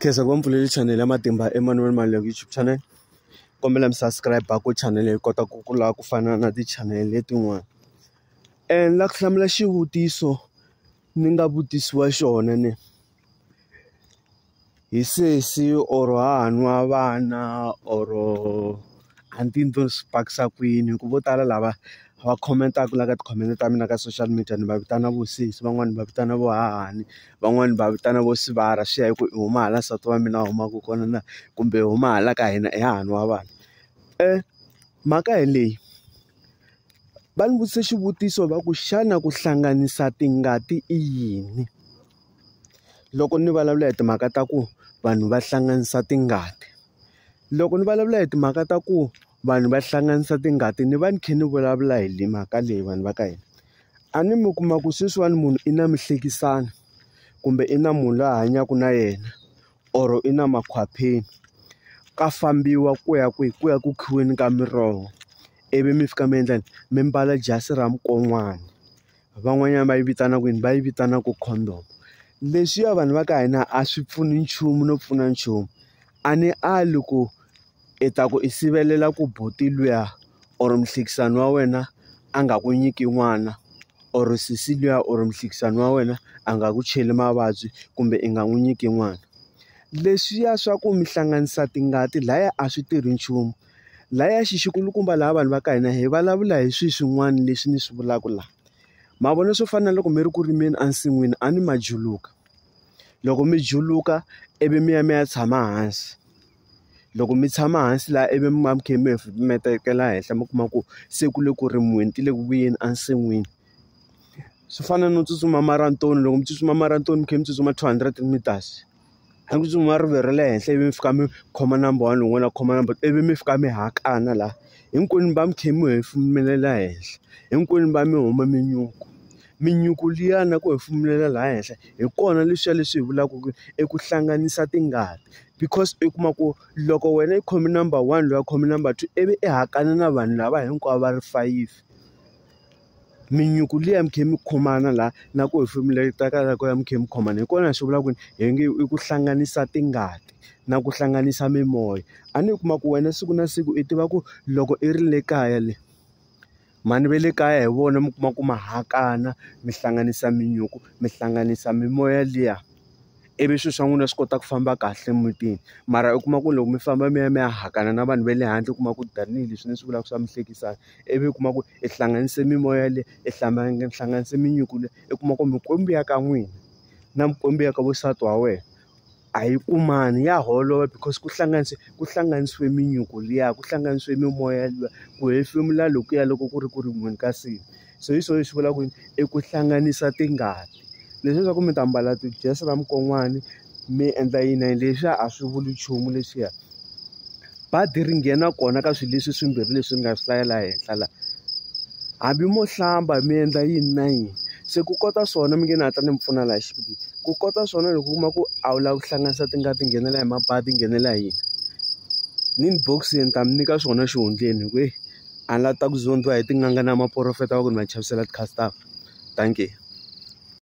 khensa ku va mpfuleli channel ya matimba Emmanuel Mali ya YouTube channel kombela mi subscribe ku channel hi kota ku kula ku fana na ti-channel letin'wana and la ku hlamula xivutiso ni nga vutisiwa xona ni hi sesi or haha nwa vana or a ni tivi ni to swi pakisa ku yini hi ku vo tala lava va comment-aka la ka tikhomente ta mina ka social media ni va vitana vo sesi van'wani ni va vitana vo hahani van'wani ni va vitana vo sivara swi ya hi ku i huma hala nsati wa mina a humaka kona na kumbe i huma hala ka hina i hahani wa vanhu mhaka hi leyi va ni vutise xivutiso va ku xana ku hlanganisa tingati i yini loko ni vulavula hi timhaka ta ku vanhu va hlanganisa tingati Loko ni vulavula hi timhaka ta ku vanhu va hlanganisa tingati ni va ni kha ni vulavula hi mhaka leyi vanhu va ka hina a ni mi kuma ku sweswiwani munhu i na mihlekisani kumbe i na munhu loyi a hanyaka na yena or i na makhwapheni ka fambiwa ku ya kwihi ku ya ku khiweni ka miroho ivi mi fika mi endla yini mi mbala jasi ra mukon'wana van'wanyana va yi vitana ku yini va yi vitana ku condom leswiya vanhu va ka hina a swi pfuni nchumu no pfuna nchumu. a ni ali ku i ta ku i sivelela ku buti luya or muhlekisani wa wena a nga ku nyiki n'wana or sesi luya or muhlekisani wa wena a nga ku cheli mavabyi kumbe i nga n'wi nyiki n'wana leswiya swa ku mi hlanganisa tingati laya a swi tirhi nchumu laya xi xi kulukumba laha vanhu va ka hina hi vulavula hi swi swin'wana leswi ni swi vulaka laha mavona swo fana na loko mi ri ku rimeni ensin'wini a ni ma juluka. loko mi juluka ivi mi ya mi ya tshama hansi loko mi tshama hansi laha ivi mi va mi kha mi hefemeletela henhla mi kuma ku se ku le ku rimiweni ti le ku vuyeni ensin'wini swi fana no tsutsuma maranatoni loko mi tsutsuma maranatoni mi kha mi tsutsuma two hundred meters a ku tsutsuma rivilo ra le henhla ivi mi fika mi khoma number one lowun'wana a khoma number ivi mi fika mi hakana laha hinkwenu mi va mi kha mi hefemelela henhla hinkwenu mi va mi hume minyuku Minyuku liya na ku hefemulela laha henhla hi kona leswiya leswi hi vulaka ku i ku hlanganisa tingati because i kuma ku loko wena i khome number one loyi a khome number two ivi i hakane na vanhu lava hinkwavo va ri fayifi minyuku liya mi kha mi khomana laha na ku hefemulaka la ku ya mi kha mi khomana hi kona hi swi vulaka ku hi nge i ku hlanganisa tingati na ku hlanganisa mimoya a ni kuma ku wena siku na siku i tiva ku loko i ri le kaya le. Mhani va le kaya hi vona mi kuma ku ma hakana mi hlanganisa minyuku mi hlanganisa mimoya liya ivi swilo swa n'wina swi kota ku famba kahle emutini mara u kuma ku loko mi famba mi ya mi ya hakana na vanhu va le handle u kuma ku tanihileswi ni swi vulaka swa mihlekisano ivi u kuma ku i hlanganise mimoya leyi i hlanganise minyuku leyi i kuma ku mikwembu ya ka n'wina na mikwembu ya ka wansati wa wena a yi kumani ya holova because ku hlanganise ku hlanganisiwe minyuku liya ku hlanganisiwe mimoya liya ku hefemula lokuya loko ku ri ku ri munhu ka simu so hi swona leswi vulaka ku yini i ku hlanganisa tingati leswi swa ku mi ta mbala ti-dress ta mukon'wana mi endla yini na yini leswiya a swi vuli nchumu leswiya. badi ri nghena kona ka swilo leswi swimbirhi leswi ni nga swi hlayela henhla laha hambi mo hlamba mi endla yini na yini se ku kota swona mi nge ni hatla ni mi pfuna laha xibedhlele ku kota swona loko u kuma ku a wu lavi ku hlanganisa tingati nghenela hi mabadi nghenela hi yini ni ni box ni ta mi nyika swona xihundleni hi ku heyi a ni la ta ku zondhiwa hi tin'anga na maporofeta va ku ni va chavisela ti-customer dankie.